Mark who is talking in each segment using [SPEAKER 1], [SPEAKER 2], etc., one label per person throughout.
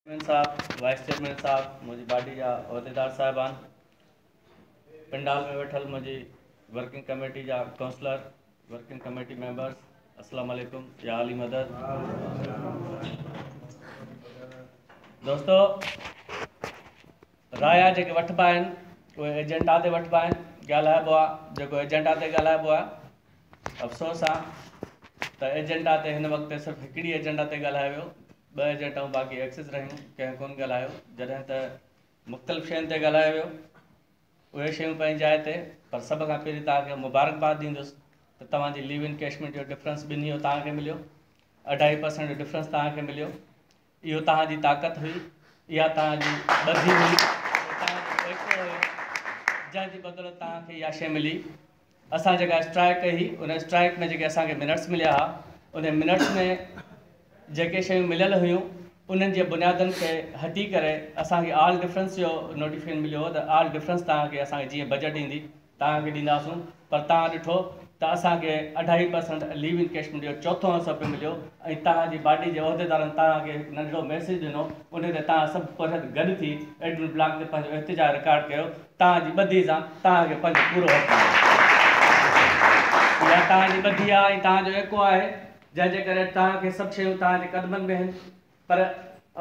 [SPEAKER 1] Chairman صاحب، vice chairman صاحب، منهنجي پارٽي جا عهديدار صاحبان، پنڊال ۾ ويٺل منهنجي ورڪنگ ڪميٽي جا ڪونسلر، ورڪنگ ڪميٽي ميمبرز، السلام عليڪم يا علي مدد. دوستو رايا جيڪي وٺبا آهن اهي ايجنٽا تي وٺبا آهن ڳالهائبو آهي جيڪو ايجنٽا تي ڳالهائبو آهي افسوس آهي ته ايجنٽا تي هن وقت صرف هڪڙي ايجنٽا تي ڳالهايو ويو ٻه ايجنٽائون باقي ايڪسس رهيون ڪنهن ڪون ڳالهايو جڏهن ته مختلف شين تي ڳالهايو ويو اهي شيون پنهنجي جاء تي پر سڀ کان پهرين تان کي مبارڪباد ڏيندس ته توهان جي ليو ان ڪيشمينٽ جو ڊفرنس ٻنهي جو تان کي مليو اڍائي پرسنٽ جو ڊفرنس تان کي مليو اهو توهان جي طاقت هئي، اها توهان جي ٻڌي هئي، اهو توهان جو ٽيڪو هيو، جنهن جي بدولت توهان کي اها شيء ملي. اسان جيڪا اسٽرائيڪ ڪئي هئي، ان اسٽرائيڪ ۾ جيڪي اسان کي منٽس مليا ها، انهن منٽس ۾ جيڪي شيون مليل هيون، انهن جي بنيادن کي هٽي ڪري اسان کي آل ڊفرنس جو نوٽيفڪيشن مليو هو ته آل ڊفرنس توهان کي اسان کي جيئن بجيٽ ايندي، توهان کي ڏينداسون پر توهان ڏٺو ته اسان کي اڍائي per cent leave in cash مليو چوٿون حصو پڻ مليو ۽ توهان جي باڊي جي عهديدارن توهان کي هڪ ننڍڙو ميسيج ڏنو ان تي توهان سڀ پرهيز گڏ ٿي ايڊمن بلاڪ تي پنهنجو احتجاج رڪارڊ ڪيو توهان جي ٻڌي سان توهان کي پنهنجو پورو حق آهي اها توهان جي ٻڌي آهي ۽ توهان جو ايڪو آهي جنهن جي ڪري توهان کي سڀ شيون توهان جي قدمن ۾ آهن پر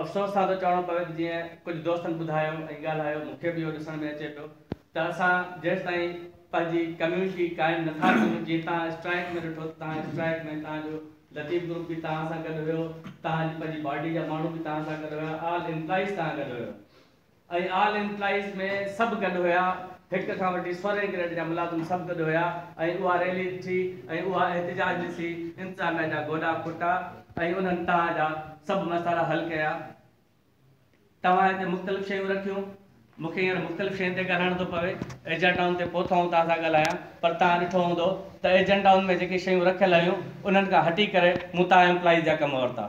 [SPEAKER 1] افسوس سان ٿو چوڻو پوي ته جيئن ڪجهه دوستن ٻڌايو ۽ ڳالهايو مون کي به اهو ڏسڻ ۾ اچي پيو ته اسان جيستائين پنهنجي ڪميونٽي قائم نٿا ڪيون جيئن توهان اسٽرائيڪ ۾ ڏٺو ته توهان اسٽرائيڪ ۾ توهان جو لطيف گروپ به توهان سان گڏ هيو توهان جي پنهنجي پارٽي جا ماڻهو به توهان سان گڏ هيا آل امپلائيز توهان گڏ هيو ۽ آل امپلائيز ۾ سڀ گڏ هيا. هڪ کان وٺي سورهين گريڊ جا ملازم سڀ گڏ هيا ۽ اها ريلي ٿي ۽ اها احتجاج ڏسي انتظاميا جا گوڏا کوٽا ۽ انهن توهان جا سڀ مسئلا حل ڪيا. توهان هتي مختلف شيون رکيون. مون کي هينئر مختلف شين تي ڳالهائڻ ٿو پوي. ايجنڊائن تي پوء ٿو آئون توهان سان ڳالهايان پر توهان ڏٺو هوندو ته ايجنڊائن ۾ جيڪي شيون رکيل هيون انهن کان هٽي ڪري مون توهان امپلائيز جا ڪم ورتا.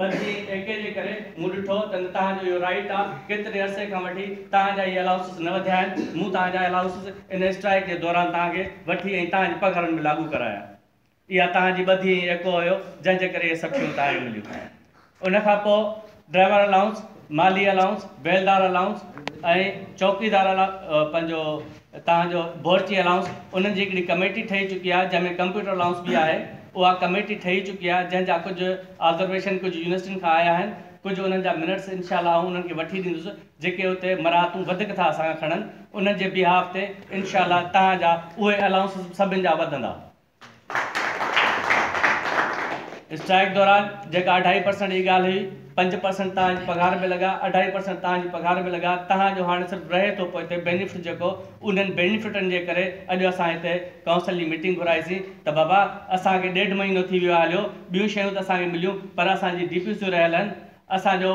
[SPEAKER 1] ٻڌي ٽيڪي جي ڪري مون ڏٺو ته نه توهان جو اهو رائيٽ آ، ڪيتري عرصي کان وٺي توهان جا اهي الاؤنسز نه وڌيا آهن، مون توهان جا الاؤنسز ان اسٽرائيڪ جي دوران توهان کي وٺي ۽ توهان جي پگهارن ۾ لاڳو ڪرايا. اها توهان جي ٻڌي ۽ ايڪو هيو جنهن جي ڪري اهي سڀ شيون توهان کي مليون. ان کان پوء ڊرائيور الاؤنس، مالي الاؤنس، بيلدار الاؤنس ۽ چوڪيدار الاؤنس پنهنجو اتان جو بورچي الائونس انهن جي هڪڙي ڪميٽي ٺهي چڪي آهي جنهن ۾ ڪمپيوٽر الائونس به آهي اها ڪميٽي ٺهي چڪي آهي جنهن جا ڪجهه آبزرويشن ڪجهه يونيورسٽين کان آيا آهن ڪجهه انهن جا منٽس انشاء الله آئون انهن کي وٺي ڏيندس جيڪي اتي مراعتون وڌيڪ ٿا اسان کان کڻن انهن جي بيهاف تي انشاء الله تهان جا اهي الائونسز سڀن جا وڌندا. اسٽرائيڪ دوران جيڪا اڍائي پرسنٽ جي ڳالهه هئي، پنج پرسنٽ توهان جي پگهار ۾ لڳا، اڍائي پرسنٽ توهان جي پگهار ۾ لڳا، توهان جو هاڻي صرف رهي ٿو پوئتي بينيفٽ جيڪو انهن بينيفٽن جي ڪري اڄ اسان هتي ڪائونسل جي ميٽنگ گهرائي سين ته بابا اسان کي ڏيڍ مهينو ٿي ويو آهي هليو ٻيون شيون ته اسان کي مليون پر اسان جي ڊي پي سيون رهيل آهن اسان جو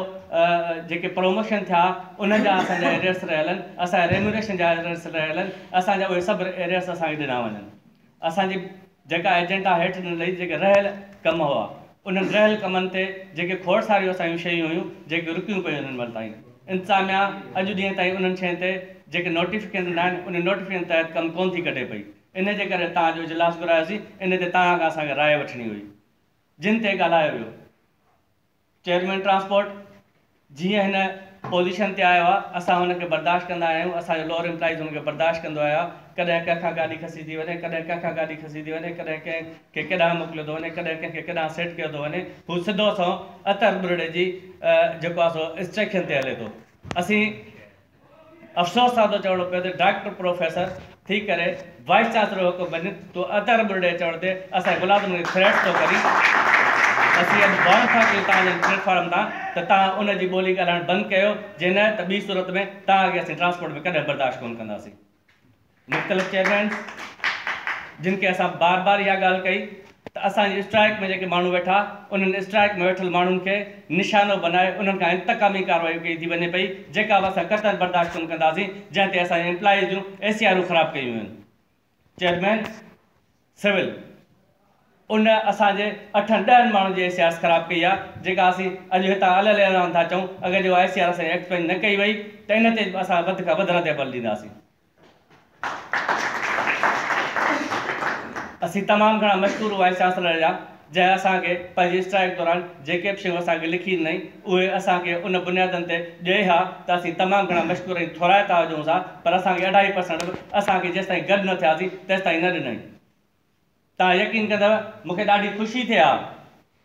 [SPEAKER 1] جيڪي پروموشن ٿيا انهن جا اسان جا ايريئرس رهيل آهن اسان جا ريميوريشن جا ايريئرس رهيل آهن اسان جا اهي سڀ ايريئرس اسان کي ڏنا وڃن. اسان جي جيڪا ايجنڊا هيٺ ڏنل هئي، جيڪي رهيل ڪم هئا، انهن رهيل ڪمن تي جيڪي کوڙ ساريون اسان جون شيون هيون، جيڪي رڪيون پيون هن مهل تائين. انتظاميا اڄ ڏينهن تائين انهن شين تي جيڪي نوٽيفڪيشن ڏنا آهن، انهن نوٽيفڪيشن تحت ڪم ڪونه ٿي ڪڍي پئي. انهيء جي ڪري توهان جو اجلاس گهرايوسين، انهيء تي توهان کان اسان کي راء وٺڻي هئي. جن تي ڳالهايو ويو. چيئرمين ٽرانسپورٽ، جيئن هن پوزيشن تي آيو آهي، اسان هن کي برداشت ڪندا آهيون، اسان جو لوئر امپلائيز هن کي برداشت ڪندو آيو آهي، ڪڏهن ڪنهن کان گاڏي کسي ٿي وڃي، ڪڏهن ڪنهن کان گاڏي کسي ٿي وڃي، ڪڏهن ڪنهن کي ڪيڏانهن موڪليو ٿو وڃي، ڪڏهن ڪنهن کي ڪيڏانهن سيٽ ڪيو ٿو وڃي، هو سڌو سنئون عطر ٻرڙي جي جيڪو آهي سو انسٽرڪشن تي هلي ٿو. اسين افسوس سان ٿو چوڻو پوي ته ڊاڪٽر پروفيسر ٿي ڪري وائيس چانسلر جو حڪم بنين تون ادا ربڙ ڏي چوڻ تي اسان ملازمن کي ٿريٽ ٿو ڪرين اسين اڄ وارن ٿا ڪيون توهان جن پليٽ فارم تان ته توهان ان جي ٻولي ڳالهائڻ بند ڪيو جي نه ته ٻي صورت ۾ توهان کي اسين ٽرانسپورٽ ۾ ڪڏهن برداشت ڪون ڪنداسين. مختلف چيئرمين جن کي اسان بار بار اها ڳالهه ڪئي ته اسان جي اسٽرائڪ ۾ جيڪي ماڻهو ويٺا انهن اسٽرائڪ ۾ ويٺل ماڻهن کي نشانو بنائي انهن کان انتقامي ڪارروائيون ڪئي ٿي وڃي پئي جيڪا به اسان قطعا برداشت ڪونه ڪنداسين جنهن تي اسان جي امپلائيز جون اي سي آرون خراب ڪيون ويون چيئرمين سول ان اسان جي اٺن ڏهن ماڻهن جي احسياس خراب ڪئي آهي جيڪا اسين اڄ هتان الهل اعلان ٿا چئون اگر جي آء سي آر اسان جي ايڪٽ پينج نه ڪئي وئي ته ان تي به اسان وڌ کان وڌ رد عمل ڏينداسين. اسين تمام گهڻا مشڪور وائيس چانسلر جا جنهن اسان کي پنهنجي اسٽرائيڪ دوران جيڪي به شيون اسان کي لکي ڏنائين، اهي اسان کي ان بنيادن تي ڏئي ها ته اسين تمام گهڻا مشڪور ۽ ٿورائتا هجونس ها، پر اسان کي اڍائي پرسنٽ به اسان کي جيستائين گڏ نه ٿياسين تيستائين نه ڏنائين. توهان يقين ڪندؤ مون کي ڏاڍي خوشي ٿئي ها،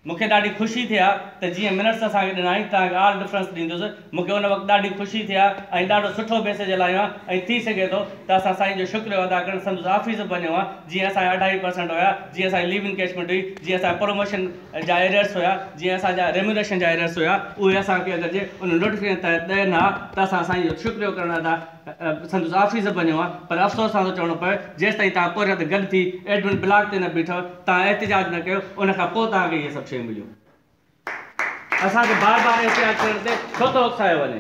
[SPEAKER 1] مون کي ڏاڍي خوشي ٿئي ها ته جيئن منٽس اسان کي ڏنائين، توهان کي آل ڊفرنس ڏيندس، مون کي ان وقت ڏاڍي خوشي ٿي ها ۽ ڏاڍو سٺو ميسيج هلايو ها ۽ ٿي سگهي ٿو ته اسان سائين جو شڪريو ادا ڪرڻ سندس آفيس به وڃون ها جيئن اسان جا اڍائي پرسنٽ هيا جيئن اسان جي ليو انڪيشمينٽ هئي جيئن اسان جا پروموشن جا ايررس هيا جيئن اسان جا ريميونريشن جا ايررس هيا اهي اسان کي اگر جي ان نوٽيفڪيشن تحت ڏين ها ته اسان سائين جو شڪريو ڪرڻ ادا سندس آفيس به وڃون ها پر افسوس سان ٿو چوڻو پوي جيستائين توهان پورهيت گڏ ٿي ايڊمن بلاڪ تي نه بيٺو توهان احتجاج نه ڪيو ان کان پوء توهان کي اهي سڀ شيون مليون. اسان کي بار بار احتياط ڪرڻ تي ڇو ٿو اڪسايو وڃي؟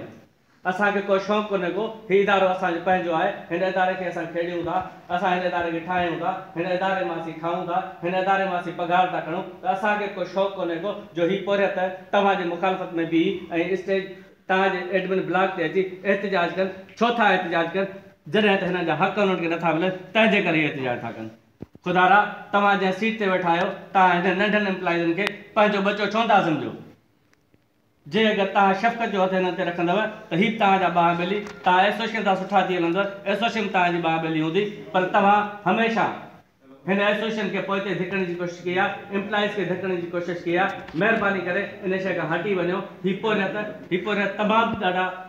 [SPEAKER 1] اسان کي ڪو شوق ڪونهي ڪو، هي ادارو اسان جو پنهنجو آهي، هن اداري کي اسان کيڙيون ٿا، اسان هن اداري کي ٺاهيون ٿا، هن اداري مان اسين کائون ٿا، هن اداري مان اسين پگهار ٿا کڻون ته اسان کي ڪو شوق ڪونهي ڪو جو هي پورهيت توهان جي مخالفت ۾ بيهي ۽ اسٽيج توهان جي ايڊمن بلاڪ تي اچي احتجاج ڪن، ڇو ٿا احتجاج ڪن؟ جڏهن ته هنن جا حق انهن کي نٿا ملن تنهن جي ڪري هي احتجاج ٿا ڪن. خدا را! توهان جنهن سيٽ تي ويٺا آهيو، توهان هنن ننڍن امپلائيزن کي پنهنجو ٻچو ڇو نٿا سمجهو؟ جي اگر توهان شفقت جو هٿ هنن تي رکندؤ ته هي به توهان جا ٻانهن ٻلي، توهان ايسوشن سان سٺا ٿي هلندؤ، ايسوشن به توهان جي ٻانهن ٻلي هوندي، پر توهان هميشه هن ايسوشن کي پوئتي ڌڪڻ جي ڪوشش ڪئي آهي، امپلائيز کي ڌڪڻ جي ڪوشش ڪئي آهي، مهرباني ڪري ان شيء کان هٽي وڃو، هي پورهيت، هي پورهيت تمام ڏاڍا.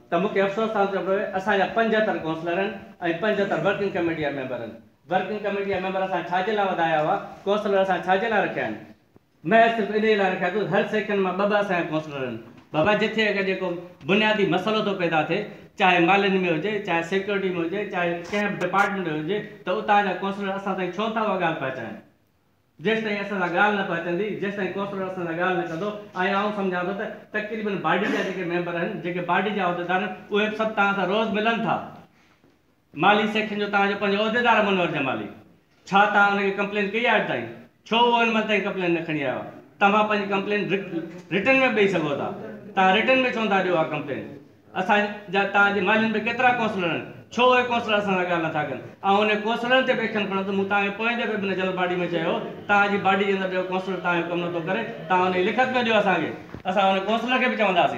[SPEAKER 1] ته مون کي افسوس سان چوڻو پيو اسان جا پنجهتر ڪونسلرن ۽ پنجهتر ورڪنگ ڪميٽي جا ميمبرن ورڪنگ ڪميٽي جا ميمبر اسان ڇاجي لاء وڌايا هئا ڪونسلر اسان ڇاجي لاء رکيا آهن محض صرف انهي لاء رکيا اٿو هر سيڪشن مان ٻه ٻه اسان جا ڪونسلر آهن بابا جتي اگر جيڪو بنيادي مسئلو ٿو پيدا ٿئي چاهي مالين ۾ هجي چاهي سيڪيورٽي ۾ هجي چاهي ڪنهن به ڊپارٽمينٽ ۾ هجي ته اتان جا ڪونسلر اسان تائين ڇو نٿا اها ڳالهه پهچائن جيستائين اسان سان ڳالهه نه پهچندي، جيستائين ڪوثر اسان سان ڳالهه نه ڪندو ۽ آئون سمجهان ٿو ته تقريبن باڊي جا جيڪي ميمبر آهن، جيڪي باڊي جا عهديدار آهن، اهي به سڀ توهان سان روز ملن ٿا. مالهي سيڪشن جو توهان جو پنهنجو عهديدار آهي منور جمالي، ڇا توهان ان کي ڪمپلين ڪئي آهي اڄ تائين؟ ڇو اهو هن مهل تائين ڪمپلين نه کڻي آيو آهي؟ توهان پنهنجي ڪمپلين رٽن ۾ به ڏئي سگهو ٿا، توهان رٽن ۾ ڇو نٿا ڏيو اها ڪمپلين؟ اسان جا توهان جي مالين به ڪيترا ڪونسلر آهن. ڇو اهي ڪونسلر اسان سان ڳالهه نٿا ڪن؟ آئون انهن ڪونسلرن تي به ايڪشن کڻندس. مون توهان کي پوئين دفعي به ان جنرل باڊي ۾ چيو هو ته توهان جي باڊي جي اندر ڏيهو ڪونسلر توهان جو ڪم نٿو ڪري. توهان ان جي لکت ۾ ڏيو اسان کي. اسان ان ڪونسلر کي به چونداسين.